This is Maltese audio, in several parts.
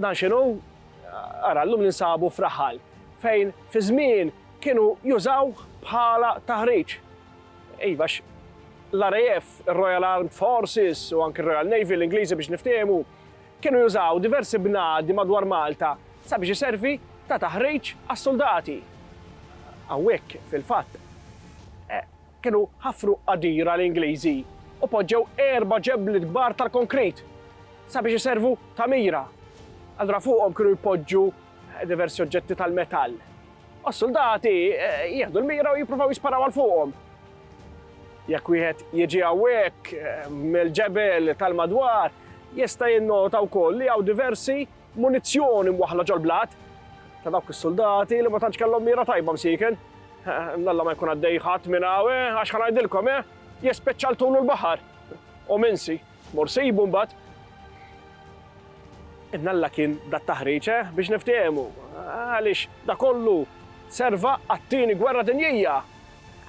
Dan x'inhu? Ara, llum ninsabu f'raħal fejn fi żmien kienu jużawh bħala taħriġ. Iva, għax l-RAF, ir-Royal Armed Forces, u anki r-Royal Navy, l-Ingliżi biex niftiehmu, kienu jużaw diversi bnadi madwar Malta sabiex iservi ta' taħriġ għas-suldati. Hawnhekk, fil-fatt, Kienu ħafru qadira l-Ingliżi u poġġew erba' ġebliet kbar tal-konkrit sabiex iservu ta' mira. Allura fuqhom kienu jpoġġu diversi oġġetti tal-metall u s-suldati jieħdu l-mira u jippruvaw jisparaw għal fuqhom. Jekk wieħed jiġi hawnhekk mill-ġebel tal-madwar, jista' jinnota wkoll li hawn diversi Munizzjoni mwaħħla ġol-blat ta' dawk is-suldati li ma tantx kellhom mira tajba msieken. Nalla ma jkun għaddej ħadd minn hawn, eh, għax ħa ngħidilkom, eh, jespeċċaltulu l-baħar. U minsi, mor sibu mbagħad. Nalla kien dat taħriġ eh, biex niftehmu, għaliex da kollu serva għat-tieni gwerra dinjija.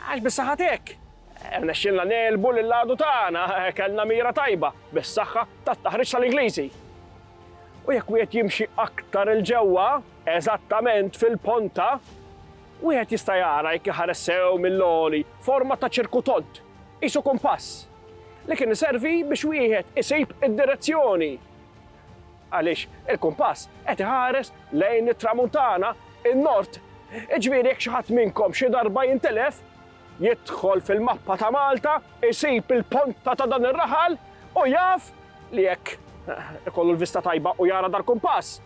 Għax bis-saħat hekk. Rnexxilna eh, nelbu lil għadu tagħna, eh, kellna mira tajba bis-saħħa tat-taħriġ tal-Ingliżi. U jekk wieħed jimxi aktar 'il ġewwa, eżattament fil-ponta, wieħed jista' jara jekk iħares sew mill-għoli forma ta' ċirku tond, qisu kumpass, li kien iservi biex wieħed isib id-direzzjoni. Għaliex il-kumpass qed iħares lejn it-tramuntana, in-nord. Iġifieri jekk xi ħadd minnkom xi darba jintilef, jidħol fil-mappa ta' Malta, isib il-ponta ta' dan ir-raħal u jaf li jekk ikollu l-vista tajba u jara dal-kumpass,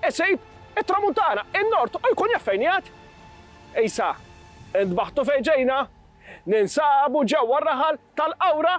isib it-Tramuntana, in-Nord u jkun jaf fejn jgħad. Isa, intbaħtu fejn ġejna, ninsabu ġewwa r-raħal tal-Qawra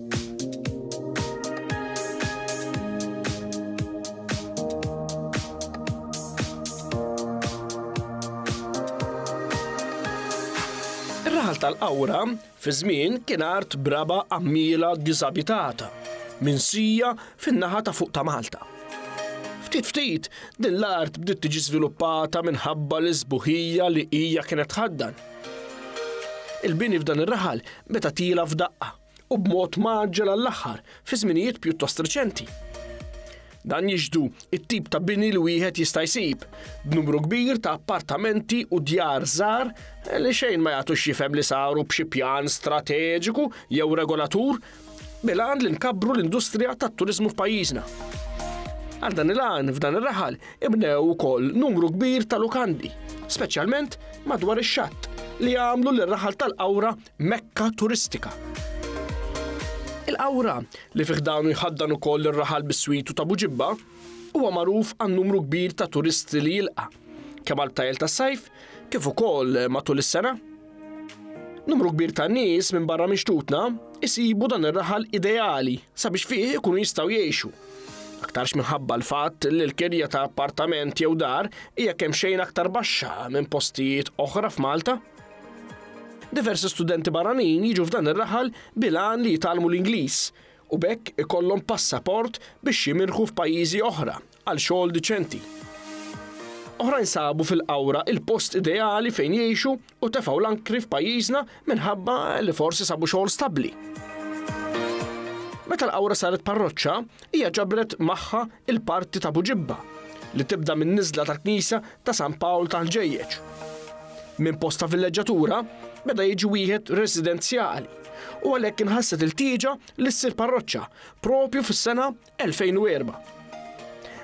Ir-raħal tal-qawra fi żmien kien art braba għammiela diżabitata minn sija fin-naħa ta' fuq ta' Malta. Ftit ftit, din l-art bdiet tiġi żviluppata minħabba l isbuħija li hija kienet tħaddan. Il-bini f'dan ir-raħal meta tila f'daqqa. u b'mod mgħaġġel għall-aħħar fi żminijiet pjuttost reċenti. Dan jiġdu it-tip ta' bini li wieħed jista' jsib, b'numru kbir ta' appartamenti u djar żgħar li xejn ma jagħtux jifhem li saru b'xi pjan strateġiku jew regolatur bil-għan li nkabbru l-industrija tat-turiżmu f'pajjiżna. Għal dan il-għan f'dan ir-raħal ibnew ukoll numru kbir ta' lukandi, speċjalment madwar ix-xatt li għamlu l-raħal tal-qawra Mekka turistika. Il-Qawra, li fi ħdanu jħaddan ukoll ir-raħal biswitu ta' Buġibba, huwa magħruf għan-numru kbir ta' turisti li jilqa', kemm għall-btajjel tas-sajf kif ukoll matul is-sena. Numru kbir ta' nies minn barra minn xtutna jsibu dan ir-raħal ideali sabiex fih ikunu jistgħu jgħixu. Aktarx minħabba l-fatt li l-kirja ta' appartament jew dar hija kemm xejn aktar baxxa minn postijiet oħra f'Malta. Diversi studenti barranin jiġu f'dan ir-raħal bil-għan li jitgħallmu l-Ingliż u b'hekk ikollhom passaport biex jimirħu f'pajjiżi oħra għal xogħol diċenti. Oħrajn sabu fil-qawra il-post ideali fejn jgħixu u tefgħu l-ankri f'pajjiżna minħabba li forsi sabu xogħol stabbli. Meta l-qawra saret parroċċa, Hija ġabret magħha l-parti ta' Buġibba li tibda min-niżla tal-Knisja ta' San Pawl tal-Ħġejjeġ. Minn post ta' villeġġatura beda jiġi wieħed residenzjali u għalhekk inħasset il-tieġa li ssir parroċċa propju fis-sena 2004.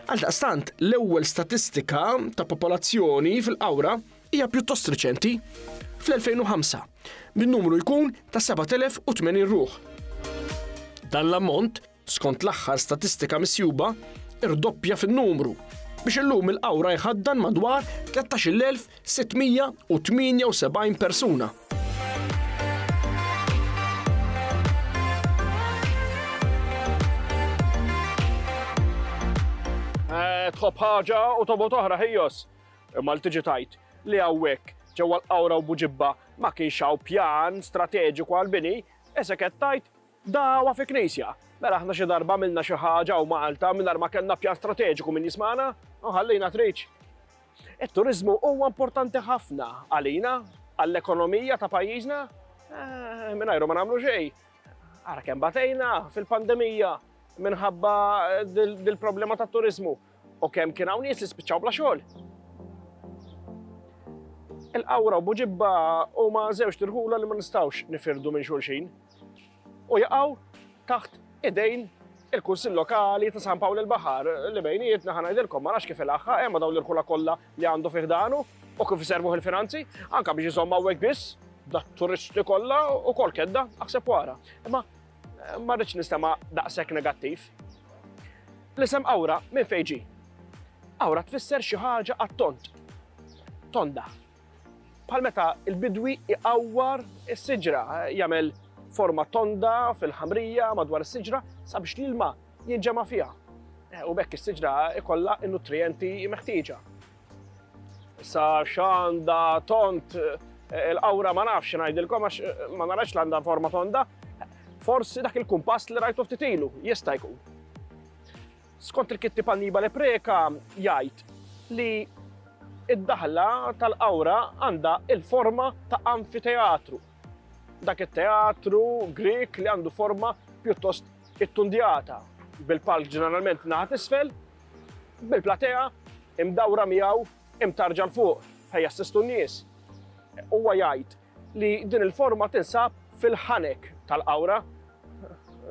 Għaldaqstant, l-ewwel statistika ta' popolazzjoni fil-qawra hija pjuttost riċenti fl-2005 bin numru jkun ta' 7080 ruħ. Dan l-ammont skont l-aħħar statistika misjuba, irdoppja fin-numru biex illum il-qawra jħaddan madwar 13,678 persuna. Eh, tħobb ħaġa u tobot oħra ħijos. Imma l tiġi tajt li għawek ġewwa l-qawra u buġibba ma kienx hawn pjan strateġiku għal-bini, eseket tajt Dagħwa fi knisja. Mela aħna xi darba għamilna xi ħaġa hawn Malta mingħajr ma kellna pjan strateġiku min jismagħna u ħallejna triċ. It-turiżmu huwa importanti ħafna għalina, għall-ekonomija ta' pajjiżna. Eh, mingħajru ma nagħmlu xejn. Ara kemm batejna fil-pandemija minħabba dil-problema ta' turizmu u kemm kien hawn nies li spiċċaw bla xogħol. Il-qawra u buġibba huma żewġ tirħula li ma nistgħux nifirdu minn xulxin. u jaqgħu taħt idejn il-Kunsill Lokali ta' San Pawl il-Baħar li bejnietna ħa ngħidilkom ma nafx kif ilaħħa hemm dawn l-irħula kollha li għandu fih danu u kif iservuh il-finanzi, anka biex iżomm hawnhekk biss, da turisti kollha u kol kedda aħseb wara. Imma eh, ma rridx nistema' daqshekk negattiv. L-isem awra minn fejġi. Awra tfisser xi ħaġa għat-tont. Tonda, bħal meta l-bidwi iqawwar is-siġra, jagħmel forma tonda fil-ħamrija madwar is-siġra sabiex l-ilma jinġema' fiha. U bekk is-siġra ikollha n-nutrijenti meħtieġa. Issa x'għandha tont eh, il-qawra ma nafx ngħidilkom għax eh, ma narax l għandha forma tonda, forsi dak il-kumpass li rajtu ftit ilu jista' jkun. Skont il-kittieb Annibale Preca jgħid li d-daħla tal-qawra għandha l-forma ta' anfiteatru. Dak it-teatru Grieg li għandu forma pjuttost ittundjata, bil-palk ġeneralment naħa t'isfel, bil-platea imdawra miegħu imtarġa l-fuq fejn jassistu n-nies. Huwa jgħid li din il-forma tinsab fil-ħanek tal-qawra.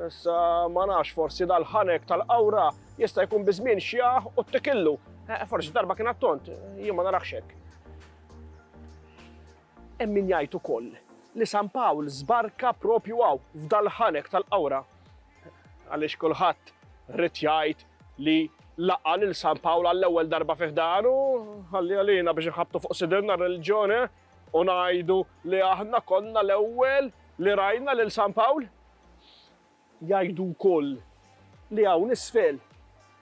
Issa ma nafx forsi dal-ħanek tal-qawra jista' jkun biżmien xjaħ u t-tikillu. Eh, forsi darba kien attont, jien ma narax hekk. Hemm min jgħid ukoll li San Pawl żbarka propju għaw f'dal-ħanek tal-qawra. Għaliex kulħadd rrid jgħid li laqqa lil San Pawl għall-ewwel darba fih dan u ħalli għalina biex nħabtu fuq sidilna r-reliġjoni. Eh? U ngħidu li aħna konna l-ewwel li rajna lil San Pawl? Jgħidu wkoll li hawn isfel,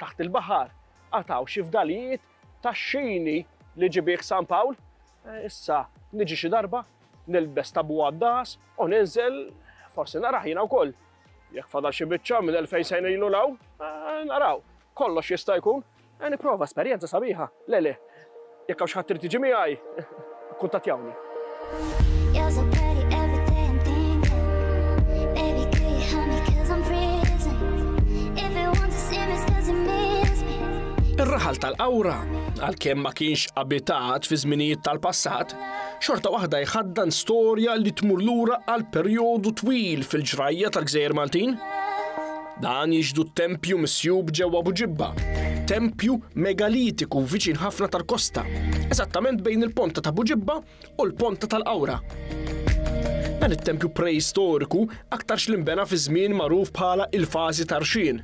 taħt il-baħar, għad hawn xi fdalijiet tax-xini li ġibih San Pawl? Issa niġi xi darba, nilbes tabu għad-dahas u ninżel, forsi narah jiena wkoll. Jekk fadal xi biċċa minn elfejn sena ilu l-hawn, naraw. Kollox jista' jkun. Ejja nipprova, esperjenza sabiħa, le le. Jekk hawn xi ħadd irid jiġi miegħi, ikkuntattjawni. Ir-raħal tal-Qawra, għalkemm ma kienx abitat fi żminijiet tal-passat, xorta waħda jħaddan storja li tmur lura għal perjodu twil fil-ġrajja tal-Gżejjer Maltin. Dan jixhdu t-tempju misjub ġewwa Buġibba, tempju megalitiku viċin ħafna tal-kosta, eżattament bejn il-ponta ta' Buġibba u l-ponta tal-Qawra. Dan it-tempju preistoriku aktarx li nbena fiż-żmien magħruf bħala il-fażi tar-Rxien,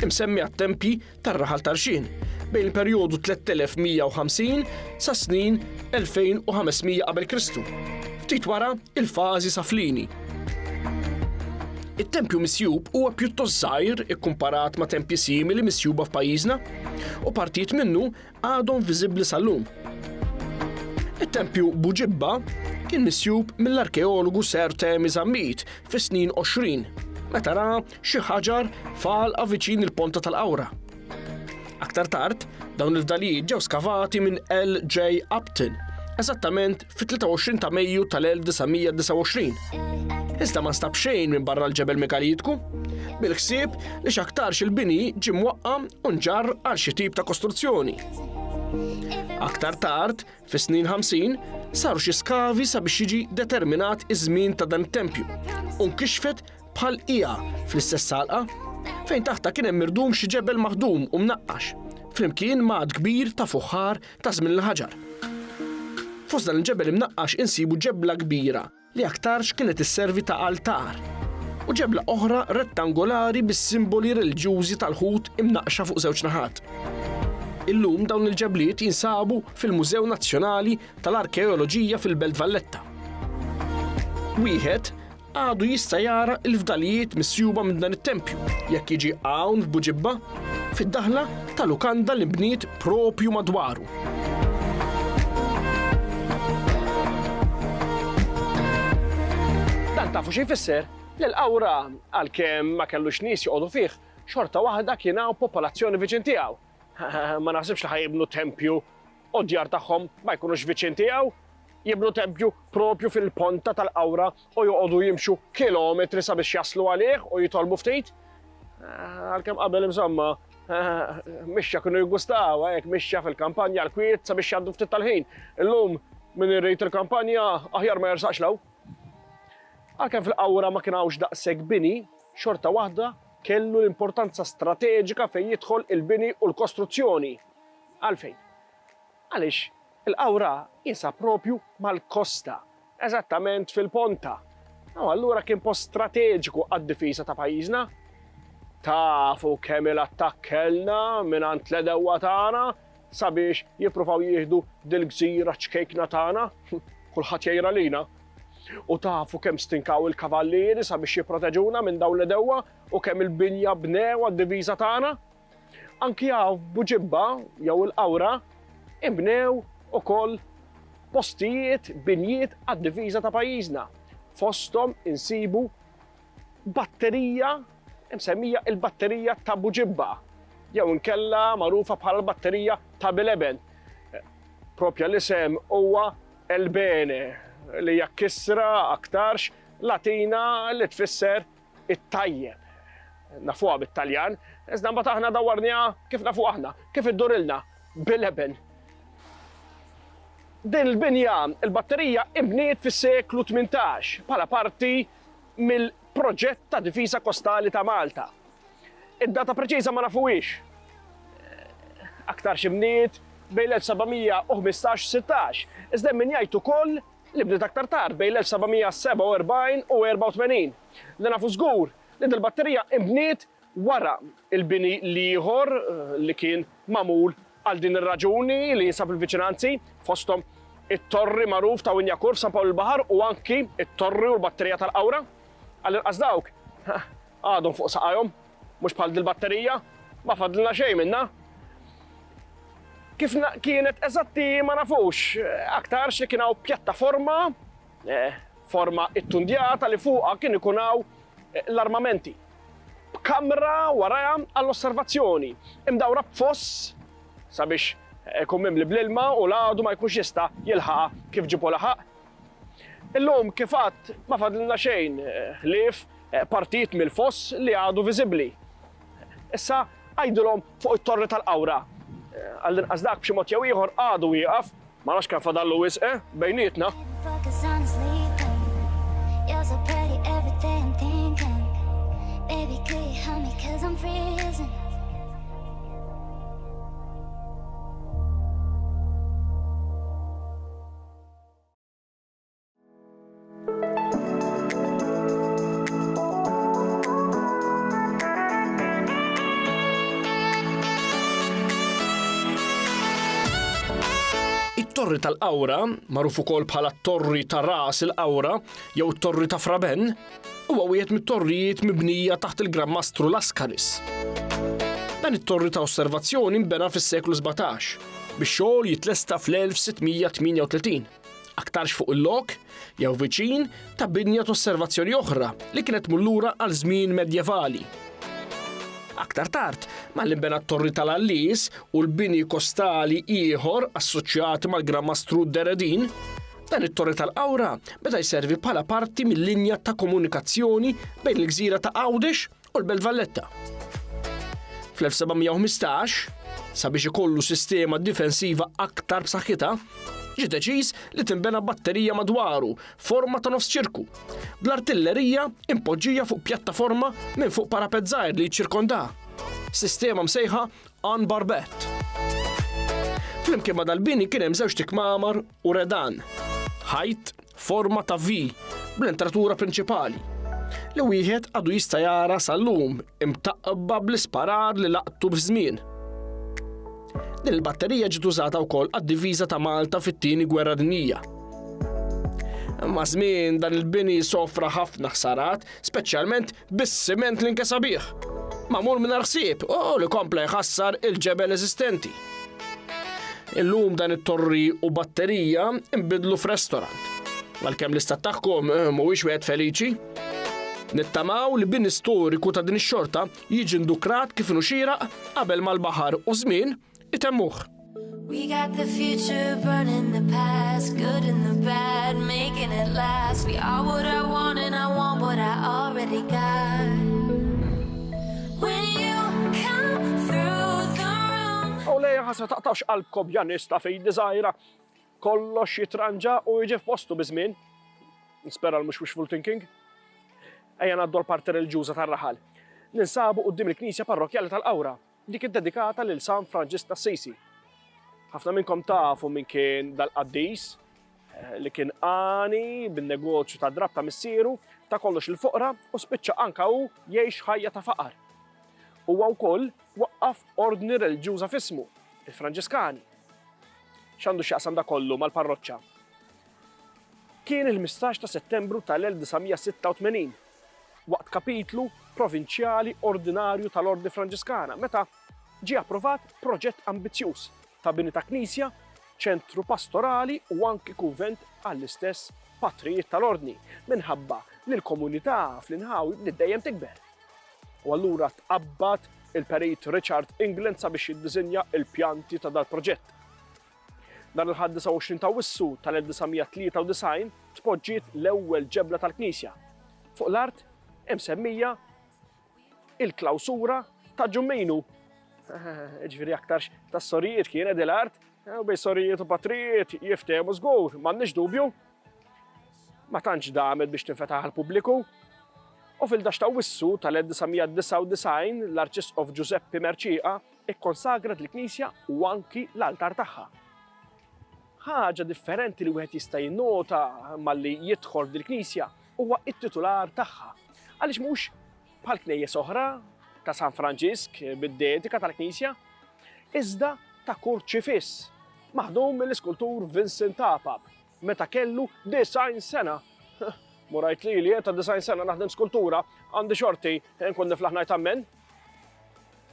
imsemmi għat-tempji tar-raħal Tarxien bejn il-perjodu 3150 sas-snin 2500 qabel Kristu, ftit wara l-fażi Saflini. It-tempju misjub huwa pjuttost żgħir ikkumparat ma' tempji simili misjuba f'pajjiżna, u partijiet minnu għadhom viżibbli sal-lum. It-tempju Buġibba kien misjub mill-arkeologu Sir Temi Zammit fis-snin 20 meta ra xi ħaġar falqa viċin il-ponta tal-qawra. Aktar tard, dawn il-fdalijiet ġew skavati minn L.J. Upton, eżattament fit-23 ta' Mejju tal-1929. Iżda ma nstab xejn minn barra l-ġebel megalitku, bil-ħsieb li x'aktarx il-bini ġie mwaqqa u nġar għal xi tip ta' kostruzzjoni. Aktar tard, fis-snin 50, saru xi skavi sabiex jiġi determinat iż-żmien ta' dan it-tempju u nkixfet bħal hija fl-istess salqa fejn taħta kien hemm mirdum xi ġebel maħdum u mnaqqax flimkien ma' kbir ta' fuħħar ta' żmien il-ħaġar. Fost dan il-ġebel imnaqqax insibu ġebla kbira li aktarx kienet isservi ta' altar u ġebla oħra rettangolari bis-simboli reliġjużi tal-Lhud imnaqqxa fuq żewġ naħat. Illum dawn il-ġebliet jinsabu fil-Mużew Nazzjonali tal-Arkeoloġija fil-Belt Valletta. Wieħed għadu jista' jara l-fdalijiet misjuba minn dan it-tempju jekk jiġi hawn f'Buġibba fid-daħla ta' lukanda li nbniet proprju madwaru. tafu xi jfisser li l-qawra għalkemm ma kellux nies joqogħdu fih, xorta waħda kien hawn popolazzjoni viċin tiegħu. Ma naħsibx li ħajibnu tempju u d-djar tagħhom ma jkunux viċin tiegħu, jibnu tempju proprju fil-ponta tal-qawra u joqogħdu jimxu kilometri sabiex jaslu għalih u jitolbu ftit. Għalkemm qabel insomma, mixja kienu jgustaw, hekk mixja fil-kampanja l-kwiet sabiex jgħaddu ftit tal-ħin. Illum min irrid il-kampanja aħjar ma jersaqx law. Għalkemm fil-qawra ma kien hawnx daqshekk bini, xorta waħda kellu l-importanza strateġika fejn jidħol il-bini u l-kostruzzjoni. Għalfejn? Għaliex il-qawra qiesha proprju mal-kosta, eżattament fil-ponta, u allura kien post strateġiku għad-difiża ta' pajjiżna. Tafu kemm il-attakk kellna mingħand l-edewwa tagħna sabiex jippruvaw jieħdu dil-gżira ċkejkna tagħna, kulħadd jgħir għalina. U tafu kemm stinkaw il-kavallieri sabiex jipproteġuna minn dawn l-edewwa u kemm il-binja bnew għad-diviża tagħna? Anki hawn f'Buġibba jew il-Qawra inbnew ukoll postijiet, binjiet għad-difiża ta' pajjiżna. Fosthom insibu batterija msemmija il-Batterija ta' Buġibba jew inkella magħrufa bħala l-Batterija ta' Bileben. Propja l-isem huwa Elbene li hija kisra aktarx Latina li tfisser it-tajjeb. Nafuha bit-Taljan, iżda mbagħad aħna dawwarniha kif nafuha aħna, kif iddurilna, bil-eben. Din il-binja, il-batterija inbniet fis-seklu tmintax bħala parti mill-proġett ta' difiża kostali ta' Malta. Id-data preċiża ma nafuhiex. Aktarx inbniet bejn l-1715 u 16, iżda hemm min jgħid ukoll li bdiet aktar tard bejn l-1747 u 84. Li nafu żgur li dil-batterija inbniet wara l-bini l-ieħor li kien magħmul għal din ir-raġuni li jinsab fil-viċinanzi, fosthom it-torri magħruf ta' Winyakur f'San Pawl il-Baħar u anki t-torri u l-batterija tal-Qawra. Għall-inqas dawk għadhom fuq saqajhom. Mhux bħal dil-batterija? Ma fadlna xejn minnha. Kif kienet eżatti ma nafux, aktarx li kien hawn pjattaforma, eh, forma ittundjata li fuqha kien ikun hawn eh, l-armamenti. B'kamra warajha għall-osservazzjoni, imdawra b'foss sabiex ikun mimli bl-ilma u l-għadu ma jkunx jista' jilħaqa kif ġipu laħaq Illum, kif għadt, ma fadlilna xejn ħlief partit mill-foss li għadu viżibbli. Issa għidulhom fuq it-Torri tal-Qawra. Għall-inqas dak b'xi mod jew ieħor għadu wieqaf, ma nafx kemm fadallu wisq bejnietna. It-Torri tal-Qawra, magħruf ukoll bħala t-Torri ta' Ras il-Qawra jew it-Torri ta' Fraben, Huwa wieħed mit-torrijiet mibnija taħt il-Gran Mastru Laskanis. Dan it-torri ta' osservazzjoni nbena fis-seklu 17 biex xogħol jitlesta fl-1638. Aktarx fuq il-lok jew viċin ta' binja ta' osservazzjoni oħra li kienet mullura għal żmien medjevali. Aktar tard, mal inbena t-torri tal-Allis u l-bini kostali ieħor assoċjati mal-Gran Mastru Deredin, Dan it-torri tal-qawra beda jservi bħala parti mill-linja ta' komunikazzjoni bejn il-gżira ta' Għawdex u l-Belt Valletta. Fl-1715, sabiex ikollu sistema difensiva aktar b'saħħitha, ġi deċiż li tinbena batterija madwaru forma ta' nofs ċirku, bl-artillerija impoġġija fuq pjattaforma minn fuq parapet żgħir li jċirkonda. Sistema msejħa Ann Barbett. Flimkien ma' dal-bini kien hemm żewġt ikmamar u redan, ħajt forma ta' V bl-entratura prinċipali, li wieħed għadu jista' jara sal-lum imtaqba bl-isparar li laqtu f'żmien. Din il-batterija ġiet użata wkoll għad-diviża ta' Malta fit-tieni gwerra dinjija. Ma' żmien dan il-bini sofra ħafna ħsarat, speċjalment bis-siment li nkesa bih, magħmul mingħajr ħsieb u li kompla jħassar il-ġebel eżistenti. Illum dan it-torri u batterija nbidlu f'restorant. Għalkemm l-istat tagħhom eh, mhuwiex wieħed feliċi, Nittamaw li bin istoriku ta' din ix-xorta jiġi ndukrat kif inhu xieraq qabel mal-baħar u żmien Itemmuh. We got the future burning the past, good and the bad, making it last. We are what I want and I want what I already got. When you come through the room. U lejja ħasa taqtax qalbkom janista fej dizajra. Kollox jitranġa u jġi f'postu bizmin. Nispera l-mux wishful thinking. Ejja naddu l-parti religjuza tar-raħal. Ninsabu qoddim il-Knisja Parrokjali tal-Qawra Dik iddedikata lil San Franġisk t'Assisi. Ħafna minnkom tafu min kien dal-qaddis li kien għani bin-negozju tad-drapp ta' missieru, ta' kollox il-foqra u spiċċa anka hu jgħix ħajja ta' faqar. Huwa wkoll waqqaf ordni reliġjuża f'ismu, il-Franġiskani. X'għandu x'jaqsam da kollu mal-parroċċa? Kien il-15 ta' Settembru tal-1986 waqt kapitlu provinċjali ordinarju tal-Ordni Franġiskana meta ġie approvat proġett ambizzjuż ta' bini ta' knisja, ċentru pastorali u anki kunvent għall-istess Patrijiet tal-Ordni minħabba li l-komunità fl-inħawi bdiet dejjem tikber. U allura tqabbad il-Perit Richard England sabiex jiddisinja l-pjanti ta' dal-proġett. Nhar il-Ħadd 29 ta' Awwissu tal-1993 tpoġġiet l-ewwel ġebla tal-knisja fuq l-art imsemmija il-klawsura ta' Ġummejnu. Ġifieri aktarx tas-sorijiet kienet il-art Eh, u bej sorijiet u patrijiet jiftehmu żgur, m'għandniex dubju. Ma tantx damet biex tinfetaħ għal-pubbliku. U fil-dax ta' wissu tal-1999 l-Arċisqof Giuseppe Merċiqa Ikkonsagrat l-knisja u anki l-altar tagħha. Ħaġa differenti li wieħed jista' jinnota malli jidħol f'dil-knisja huwa t-titular tagħha. Għaliex mhux bħal knejjes oħra ta' San Franġisk bid-dedika tal-knisja, iżda ta' kurċifiss maħdum mill-iskultur Vincent Tapa. meta kellu 90 sena. Murajt li li ta' 90 sena naħdem skultura għandi xorti nkun niflaħ ngħid ammen.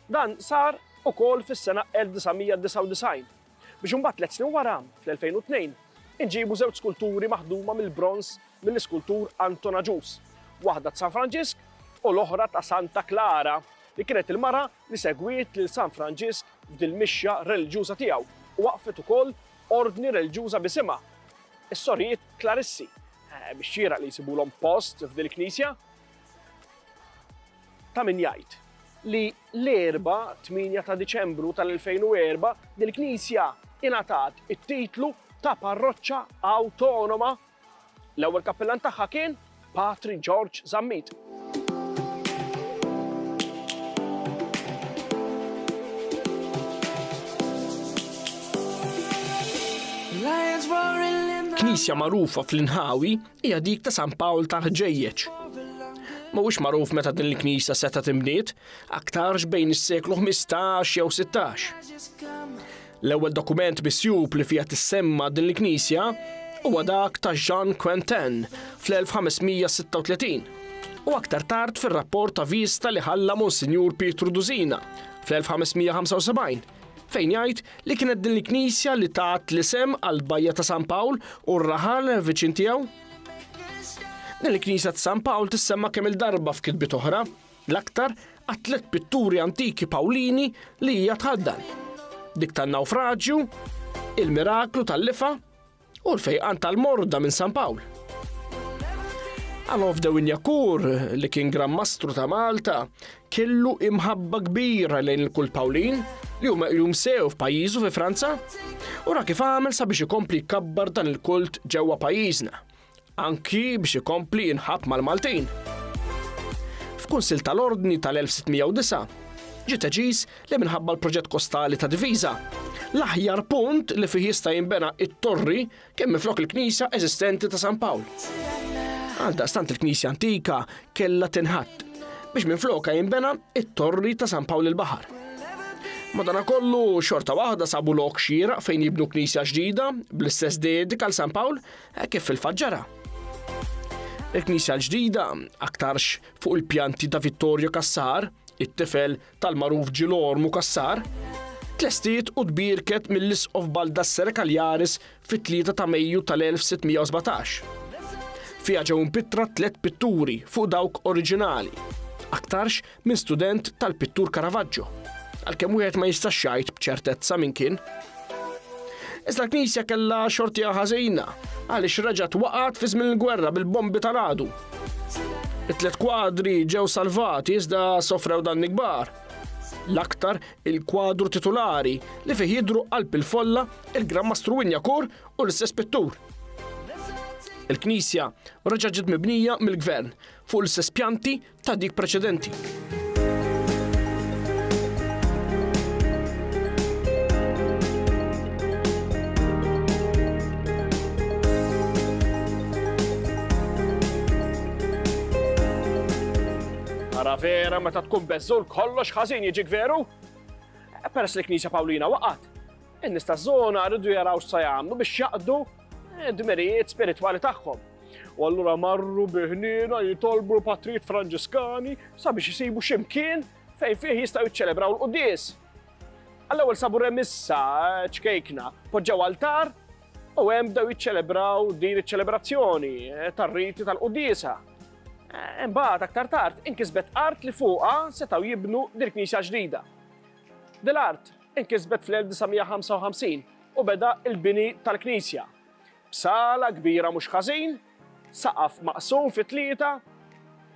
Dan sar ukoll fis-sena 1999 biex imbagħad tliet snin wara fl-2002 inġibu żewġ skulturi maħduma mill-bronz mill-iskultur Anton Aġus, waħda ta' San Franġisk u l-oħra ta' Santa Klara li kienet il-mara li segwiet lil San Franġisk f'dil-mixja reliġjuża tiegħu u waqfet ukoll ordni reliġjuża b'isimha, is-Sorijiet Klarissi, biex xieraq li jsibulhom post f'dil-knisja. Ta' min jgħid li l-Erbgħa, 8 ta' Diċembru tal-2004, dil-knisja ingħatat it-titlu ta' parroċċa awtonoma L-ewwel kappillan tagħha kien Patri George Zammit. Knisja magħrufa fl-inħawi hija dik ta' San Pawl ta' Ħġejjeġ. Mhuwiex magħruf meta din il-knisja seta' timbniet, aktarx bejn is-seklu 15 jew 16. L-ewwel dokument misjub li fiha tissemma din il-knisja huwa dak ta' Jean Quentin fl-1536 u aktar tard fir-rapport ta' viżta li ħalla Monsinjur Pietru Dusina fl-1575 fejn jgħid li kienet din il-knisja li tat l-isem għall-bajja ta' San Pawl u r-raħal viċin tiegħu. Din il-knisja ta' San Pawl tissemma kemm-il darba f'kitbiet oħra. l-aktar għat-tliet pitturi antiki Pawlini li hija tħaddan, dik tan-Nawfraġju, il-Miraklu tal-Lifa u l-Fejqan tal-Morda minn San Pawl. Alof de Winjakur, li kien Gran Mastru ta' Malta, kellu imħabba kbira lejn il-kult Pawlin li huma jum sew f'pajjiżu fi Franza, u ra kif għamel sabiex ikompli jkabbar dan il-kult ġewwa pajjiżna. Anki biex ikompli jinħabb mal-Maltin. F'Kunsill tal-Ordni tal-1609, ġie deċiż li minħabba l-proġett kostali ta' diviża, l-aħjar punt li fih jista' jinbena it-torri kien minflok il-knisja eżistenti ta' San Pawl. Għaldaqstant il-knisja antika kellha tinħatt biex minflokha jinbena it-torri ta' San Pawl il-Baħar. Madanakollu xorta waħda sabu lok xieraq fejn jibnu knisja ġdida bl-istess dedika għal San Pawl Hekk kif fil-fatt ġara. Il-Knisja l-ġdida, aktarx fuq il-pjanti ta' Vittorio Cassar, it-tifel tal-magħruf Ġilormu Cassar, tlestiet u tbierket mill-Isqof Baldassere Cagliaris fit-3 ta' Mejju tal-1617. Fiha ġew impittra tliet pitturi fuq dawk oriġinali, aktarx minn student tal-pittur Caravaggio, għalkemm wieħed ma jistax jgħid b'ċertezza min kien. Iżda l-Knisja kellha xortija ħażina għaliex reġgħet waqgħet fi żmien il-gwerra bil-bombi tal-għadu. It-tliet kwadri ġew salvati iżda sofrew dan kbar. L-aktar il-kwadru titulari li fih jidru qalb il-folla il-Gran Mastru Winjakur u l-istess pittur. Il-Knisja reġa' ġiet mibnija mill-Gvern fuq l-istess pjanti ta' dik preċedenti. Ara vera meta tkun beżżul kollox ħażin jiġik veru? Peress li Knisja Pawlina waqgħet, In-nies taż-żona riedu jaraw x'sa jagħmlu biex jaqdu d-dmirijiet spiritwali tagħhom. U allura marru bi ħniena jitolbu l-patrijiet Franġiskani sabiex isibu xi mkien fejn fih jistgħu jiċċelebraw l-quddies. Għall-ewwel sabu remissa ċkejkna, poġġew altar u hemm bdew jiċċelebraw din iċ-ċelebrazzjoni tar-riti tal-quddiesa. Eh, imbagħad aktar tard inkisbet art li fuqha setgħu jibnu dil-knisja ġdida. Dil-art inkisbet fl-1955 u beda l-bini tal-knisja, b'sala kbira mhux ħażin, saqaf maqsum fi tlieta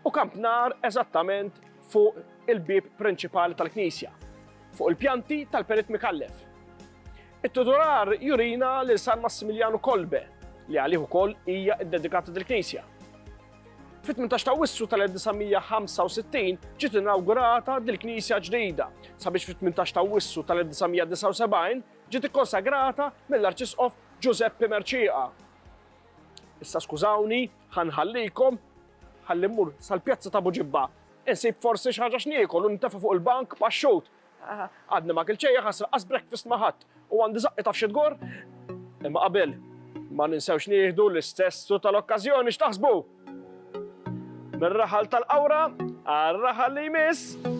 u kampnar eżattament fuq il-bieb prinċipali tal-knisja, fuq il-pjanti tal-Perit Micallef. It-titolar jurina lil San Massimiljanu Kolbe, li għalih ukoll hija ddedikata dil-knisja. Fit-18 ta' Wissu tal-1965 ġiet inawgurata dil-knisja ġdida, sabiex fit-18 ta' Wissu tal-1979 ġiet ikkonsagrata mill-Arċisqof Ġużeppi Mercieqa. Issa skużawni, ħa nħallikom, ħalli mmur sal-pjazza ta' Buġibba, insib forsi xi ħaġa x'niekol u nintefa' fuq il-bank paxxut, Għadni ma kilt xejn jaħas laqqas breakfast ma ħadt u għandi żaqqi taf xi tgorr? Imma qabel ma ninsewx nieħdu l-istess su tal-okkażjoni x'taħsbu? Mir-raħal tal-qawra għar-raħal li jmiss.